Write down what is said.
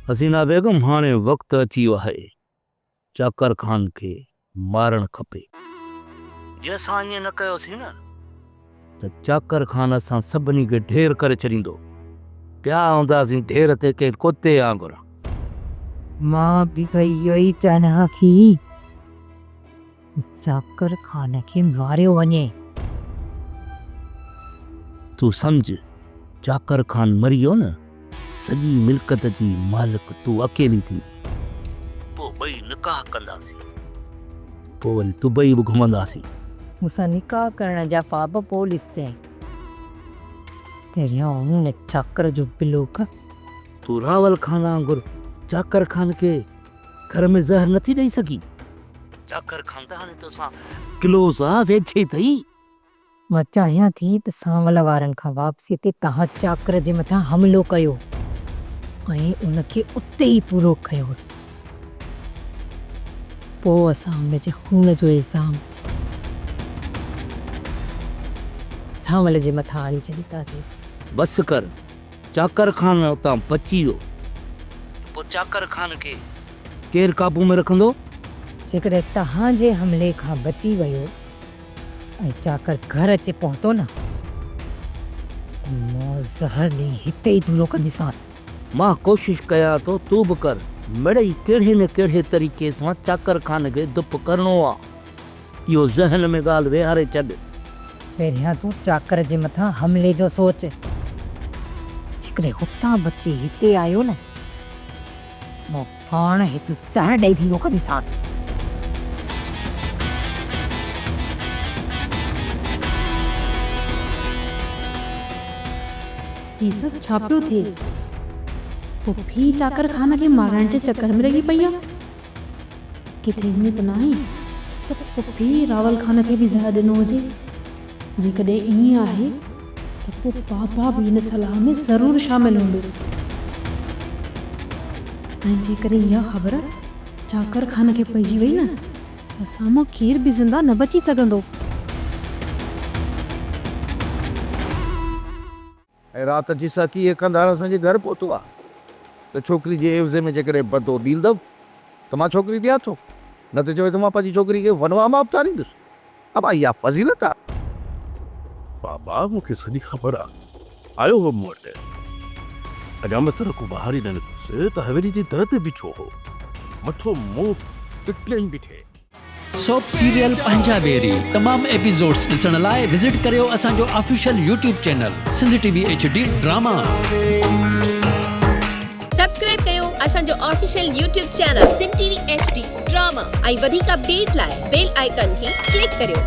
حسينا بيگم هاڻي وقت اچي ويو آهي چاڪر خان کي مارڻ کپي. جي اسان ائين نه ڪيوسين نه ته چاڪر خان اسان سڀني کي ڍير ڪري ڇڏيندو. پيا هونداسين ڍير تي ڪنهن ڪتي وانگر. مان به اهو ئي چئڻ ها ٿي. ذاڪر خان کي ماريو وڃي. تون سمجهه ذاڪر خان مري ويو نه سڄي ملڪت جي مالڪ تون اڪيلي ٿيندين. پوء ٻئي نڪاح ڪنداسين. پوء وري دبئي به گهمنداسين. مون سان نڪاح ڪرڻ جا خواب پوء ڏسجانء. پهريان هن ذاڪر جو بلوڪ. تون راول خان وانگر ذاڪر خان کي. گهر ۾ زهر نٿي ڏئي سگهي. چاڪر کان ته هاڻي توسان ڪلوز آ، ويجهي ٿئي. مان چاهيان ٿي ته سانول وارن کان واپسيء تي توهان چاڪر جي مٿان حملو ڪيو ۽ ان کي اتي ئي پورو ڪيوس. پوء اسان ان جي خون جو الزام سانول جي مٿان آڻي ڇڏينداسين. بس ڪر. چاڪر خان اتان بچي ويو ته پوء چاڪر خان کي ڪير قابو ۾ رکندو؟ جيڪڏهن توهان جي حملي کان بچي ويو ۽ چاڪر گهر اچي پهتو نه ته مان زهر ڏئي هتي ئي دورو ڪنديسانس. مان ڪوشش ڪيان ٿو، تون به ڪر. مڙئي ڪهڙي نه ڪهڙي طريقي سان چاڪر خان کي دپ ڪرڻو آ. اهو ذهن ۾ ڳالهه ويهاري ڇڏ. پهريان تون چاڪر جي مٿان حملي جو سوچ. جيڪڏهن هتان بچي هتي آيو نه مون پاڻ هڪ زهر ڏئي ڀينگو ڪنديسانس. هي سڀ ڇا پيو ٿئي؟ پڦي چاڪر خان کي مارڻ جي چڪر ۾ لڳي پئي آ. ڪٿي ائين ته ناهي ته پڦي راول خان کي به زهر ڏنو هجي؟ جيڪڏهن ائين آهي ته پوء پاپا به ان صلاح ۾ ضرور شامل هوندو. ۽ جيڪڏهن اها خبر چاڪر خان کي پئجي وئي نه ته سامو کير به زنده نه بچي سگهندو. ۽ رات جي ساقي اهي قنڌار اسان جي گهر پهتو آ ته ڇوڪري جي عيوضي ۾ جيڪڏهن بدو ڏيندؤ ته مان ڇوڪري ڏيان ٿو، نه ته چوي ٿو مان پنهنجي ڇوڪري کي ونواه مان اپتاريندس. ابا اها فضيلت آ. بابا مون کي سڄي خبر آ. آيو هو مون وٽ. حجامت تر ڪو ٻاهر ئي نه نڪتس ته حويلي جي در تي بيٺو هو. مٿو منهن ٽٽلين بيٺي. سوپ سيريل پنهنجا بيري تمام ايپيزوڊس ڏسڻ لاء وزٽ ڪريو اسان جو official YouTube channel Sindh T V H D drama. Subscribe ڪيو اسان جو official YouTube channel Sindh T V H D drama ۽ وڌيڪ اپڊيٽ لاء بيل آئيڪان کي ڪلڪ ڪريو.